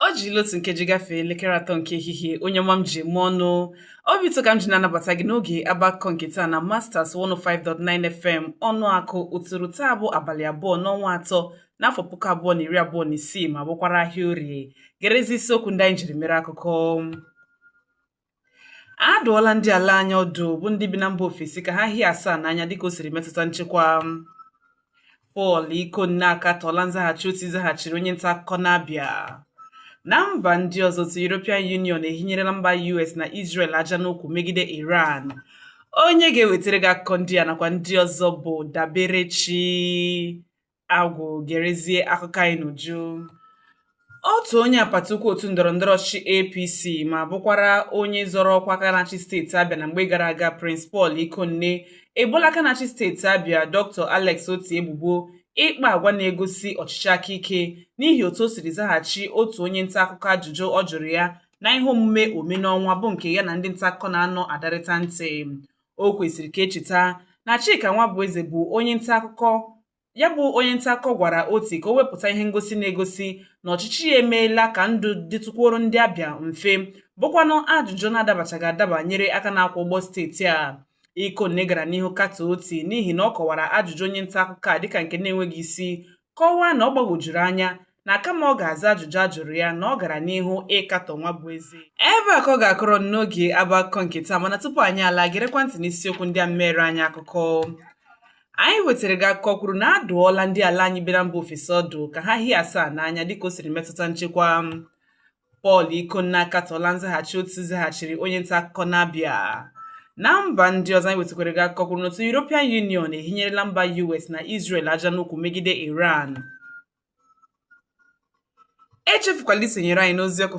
O jila otu nkeji gafee elekere atọ nke ehihie onye ọma m ji eme ọnụ obi ụtọ ka m ji na-anabata gị n'oge agba akụkọ nke taa na Masters 105.9 FM Ọnụakụ Uturu taa bụ abalị abụọ n'ọnwa atọ n'afọ puku abụọ na iri abụọ na isii ma bụkwara ahịa orie gerezi isiokwu ndị anyị jiri mere akụkọ A dụọla ndị ala anyị ọdụ bụ ndị bi na mba ofesi ka ha hie asaa n'anya dịka o siri metụta nchekwa. Paul Ikonne akatọọla nzaghachi Oti zaghachiri onye nta akụkọ n'Abịa. Na mba ndị ọzọ otu European Union ehinyerela mba US na Israel aja n'ukwu megide Iran. Onye ga-ewetara gị akụkọ ndị a nakwa ndị ọzọ bụ Daberechi agwụ gerezie akụkọ anyị n'uju otu onye apata ụkwụ otu ndọrọndọrọ ọchịchị apc ma bụkwara onye zọrọ ọkwa aka na-achị steeti abịa na mgbe gara aga prince paul ikonne eboola aka na-achị steeti abịa dr alex oti ebubo ịkpa agwa na-egosi ọchịchị aka ike n'ihi otu o siri zaghachi otu onye nta akụkọ ajụjụ ọ jụrụ ya na ihe omume ome n'ọnwa bụ nke ya na ndị nta akụkọ na-anọ adarịta ntị o kwesịrị ka e cheta na Chika Nwabueze bụ onye nta akụkọ ya bụ onye nta akụkọ gwara oti ka o wepụta ihe ngosi na-egosi na ọchịchị ya emeela ka ndụ dịtụkwuoro ndị abịa mfe bụkwanụ ajụjụ na-adabachaghị adaba nyere aka na-akwọ ụgbọ steeti a Ikonne gara n'ihu katọọ oti n'ihi na ọ kọwara ajụjụ onye nta akụkọ a dịka nke na-enweghị isi kọwaa na ọ gbagwojuru anya na kama ọ ga-aza ajụjụ a jụrụ ya na ọ gara n'ihu ịkatọ Nwabueze ebe a ka ọ ga-akọrọ n'oge agba akụkọ nke taa mana tupu anyị ala gerekwa ntị n'isiokwu ndị a mere anyị akụkọ anyị wetara gị akụkọ kwuru na a dụọla ndị ala anyị bi na mba ofesi ọdụ ka ha hie asaa n'anya dịka o siri metụta nchekwa Paul Ikonne akatọọla nzaghachi Oti zaghachiri onye nta akụkọ n'Abia. Na mba ndị ọzọ anyị wetakwara gị akụkọ kwuru n'otu European Union ehinyerela mba US na Israel aja n'ukwu megide Iran. Echefukwala isonyere anyị n'ozi ọkụ